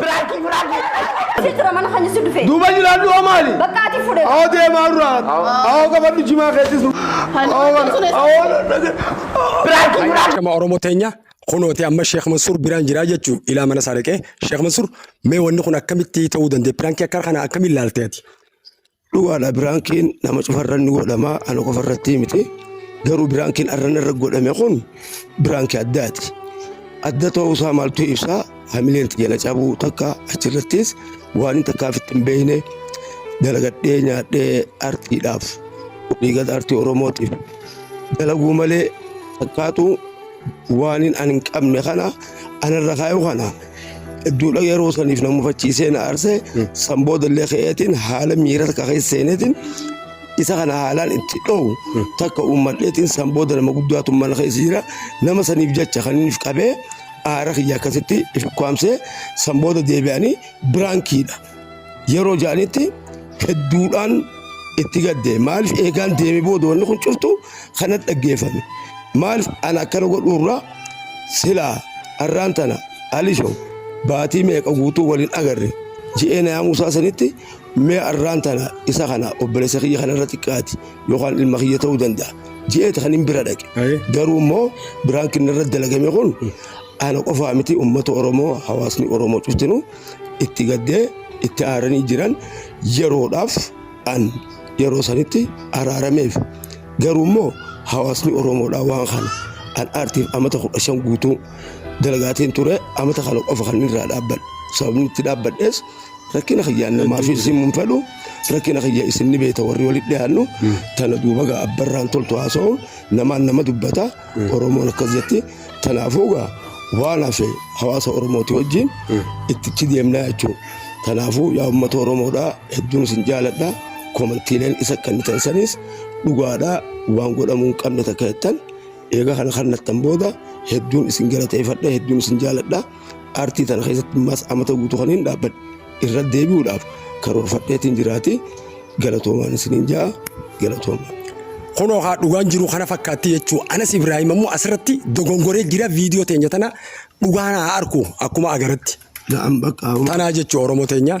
Biraakii biraakii. Asii tura mana kan si dhufe. Duuba jiraadhu hoo maali? Bakka ati fudhe. Hoo deemaa duraa. Hoo qabadhu jimaa keessis. Biraakii biraakii. Shama Oromoo teenya kunooti amma Sheekh Mansuur biraan jiraa jechuu ilaa mana isaa dhaqee Sheekh Mansuur mee wanni kun akkamitti ta'uu danda'e piraankii akka kana akkamiin ilaalte ati? Dhugaadha biraankiin nama cufarra ni godhama ana qofa irratti miti garuu biraankiin arran irra godhame kun biraankii addaati. Adda ta'uu isaa maaltu ibsa hamileen xiyya na cabuu takka achirrattis waan hin takkaaf itti hin beekne dalagadhee nyaadhee artiidhaaf dhiigata artii oromootiif dalaguu malee takkaatu waan hin an hin qabne kana anarra kaayuu kana Hedduudha yeroo saniif na mufachiisee na aarse san booda illee ka'eetiin haala miira takka keessa seeneetiin isa kana haalaan itti dhowu takka uummadheetiin san booda nama guddaatu mana keessa jira nama saniif jecha kan inni if qabee aara kiyya akkasitti if ukkaamsee san booda deebi'anii biraankiidha. Yeroo ja'anitti hedduudhaan itti gadde maaliif eegaan deemee booda wanni kun cuftu kanatti dhaggeeffame maaliif ana akkana godhuurraa silaa har'aan tana alisho baatii meeqa guutuu waliin agarre ji'ee na yaamuusaa sanitti mee har'aan tana isa kana obboleessa kiyya kanarra xiqqaati yookaan ilma kiyya ta'uu danda'a ji'eeti kan hin bira dhaqe garuu immoo biraan kinnarra dalagame kun ana qofaa miti uummata oromoo hawaasni oromoo cuftinu itti gaddee itti aaranii jiran yeroodhaaf an yeroo sanitti araarameef garuu immoo hawaasni oromoodhaa waan kana an aartiif amata kudha shan guutuu dalagaatiin ture amata kana qofa kan irraa dhaabbadhe sababni itti dhaabbadhees rakkina kiyyaan namaa fi isin mun fedhu rakkina kiyya isin ni beeta warri walitti dhiyaannu tana duuba gaa abbarraan toltu haasa'uun namaan nama dubbata Oromoon akkas jetti kanaafuu gaa waan hafe hawaasa Oromooti wajjin ittichi deemnaa jechuudha. Kanaafuu yaa uummata Oromoodhaa hedduun isin jaaladha. Komantiileen isa kennitan sanis dhugaadhaa waan godhamuu hin qabne takka jettan eega kana kannattan booda hedduun isin galateeffadha hedduun isin jaaladha. Artii tana keessatti mas amata guutuu kan hin dhaabbadhe irra deebi'uudhaaf karoorfadheetiin jiraate galatoomaan isiniin ja'a galatooma. Kunoo haa dhugaan jiru kana fakkaatti jechuu Anas Ibrahim ammoo asirratti dogongoree jira viidiyoo teenya tana dhugaan haa arku akkuma agaratti. Na'am bakka Tanaa jechuu Oromoo teenya.